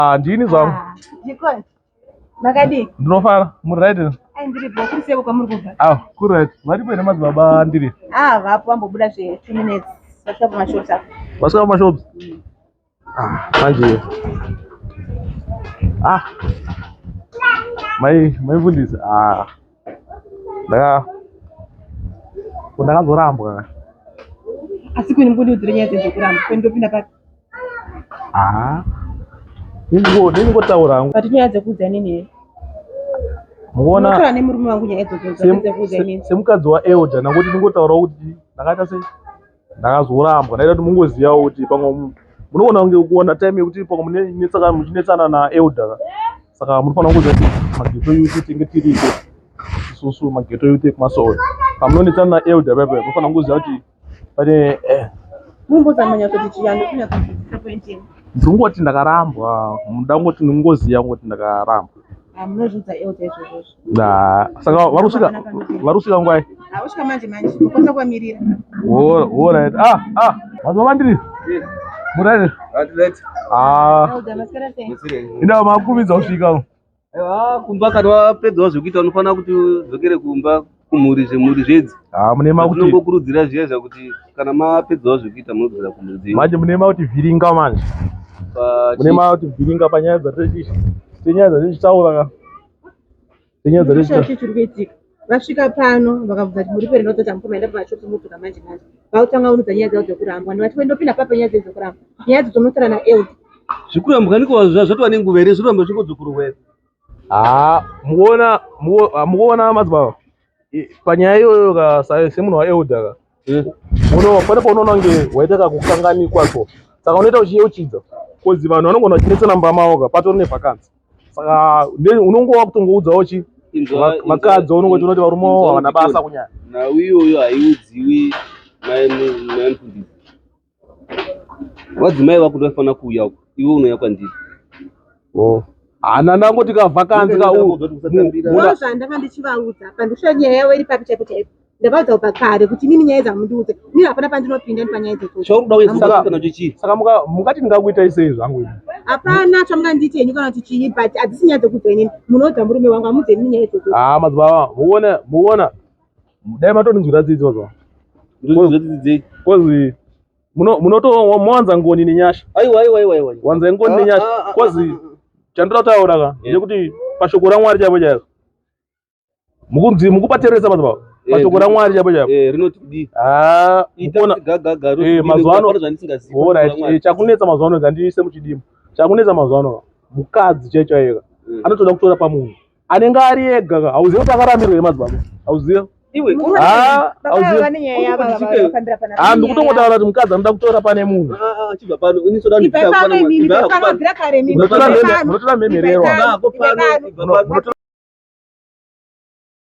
Ah, ndini zvangu. Ah, Jikoni. Makadii? Ndinofara. Muri right? Ai ndiri bho kuri seko kwamuri kubva. Ah, kuri right. Varipo here madzibaba ndiri? Ah, vapo vambobuda zve 2 minutes. Vasvika pamashops apo. Vasvika pamashops? Ah, manje. Ah. Mai, mai fundisi. Ah. Yeah. Ndakazorambwa. Asi kuni mbudi udzire nyaya dzenje kuramba. Kuni ndopinda papi? Ah. Ningo ningo taura hangu. Pati nyaya dzekudza nini here? Muona. Muona ne murume wangu nyaya dzodzo dzekudza nini? Semukadzi wa Elder nangoti ningo taura kuti ndakaita sei? ndakazorambwa ndaida kuti mungozivawo kuti pamwe munogona kunge kuona time yekuti pamwe munetsaka muchinetsana naelder saka munofanira kuziva kuti mageto yuti tenge tiriko isusu mageto yuti ekumasowe pamunonetsana naelder pepe munofanira kuziva kuti pane eh. ndingoti ndakarambwa ndangoti ndingoziva ngoti ndakarambwa ah, Nah, saka varusika varusika ngwai? Ah, usika manje manje. Ukonza kwa mirira. Wo wo right. Ah, ah. Vanhu vandiri. Yes. Murani. At late. Ah. Inda makuvidza usvika. Ah, kumba kana wapedza zvekuita unofanira kuti udzokere kumba kumhuri zvemhuri zvedzi. Ah, mune makuti. Unongokurudzira zviya zvakuti kana mapedza zvekuita munodzokera kumhuri dzenyu. Manje mune makuti vhiringa manje. Mune makuti vhiringa panyaya dzatiri. Tenyaya dzatiri taura ka. Zinyaya dzari Ndosaka chii chiri kuitika vasvika pano vakabvunza kuti muri peri nototi amukoma enda pamashop motuka manje manje vakutanga unudza nyaya dzavo dzekurambwa and vati wendopinda papa nyaya dzenyu dzekurambwa nyaya dzo tonotora na eld zvikurambwa niko zva- zvatova nenguva here zvikurambwa zvingodzokorwa here haa mukuona muku- ah, mukuona madzibaba panyaya iyoyo ka semunhu waelder ka eh. uno pane paunoona kunge waita kakukanganikwa ko saka unoita uchiyeuchidza bcause vanhu vanogona vachinetsana mumba mavo ka patori nevakanzi saka unongo wakutongoudzawo chi vakadzi unongoti unoti varume wavo havana basa kunyaya nhau iyoyo haiudziwi maimundii Vadzimai vako ndovafana kuuya uko, iwe unouya kwandiri. Oh. Hana nangu tikavhakanzi ka u. Ndoo zvandanga ndichivaudza apa ndisho nyaya yavo iri papi chaipo chaipo. Ndavaudza kubva kare kuti mimi nyaya dzamundiudze. Mimi hapana pandinopinda ndi panyaya dzechocho. Chauruda uye saka kana chichi. Saka muka mukati ndingakuita isei zvangu ini. Hapana chamunganditi henyu kana kuti chii but adzisi nyaya dzekuudza ini. Munoudza murume wangu amudze mimi nyaya dzechocho. Ah madzibaba muone muona dai matondinzwira tsitsi wazwa Ndozvinzwa tsitsi dzei? kozi muno- munoto- mowanza ngoni nenyasha Aiwa, aiwa, aiwa, aiwa. wanza ngoni Ah, nenyasha ah, ah, kozi ah, ah. chandira kutaura ka Yeah. nekuti pashoko ramwari chaipo chaipo mukunzi mukupateresa mazuva Yeah, pashoko yeah. ramwari chaipo chaipo Eh, rinoti kudii? Ah, Ita mukuona kuti gagaga, rinoti Eh, kudii, mazuva ano- nokupara zvandisingazivi, All right, Mwari. eh, chakunetsa mazuva ano kandiise muchidima chakunetsa mazuva ano mukadzi chaicho ayeka Mm. anotoda kutora pamunhu anenge ari ega hauzive kuti akarambirwa here madzibaba hauzive ah, ah, ndikutongotaura kuti mukadzi anoda kutora pane munhu munotora mhemhererwa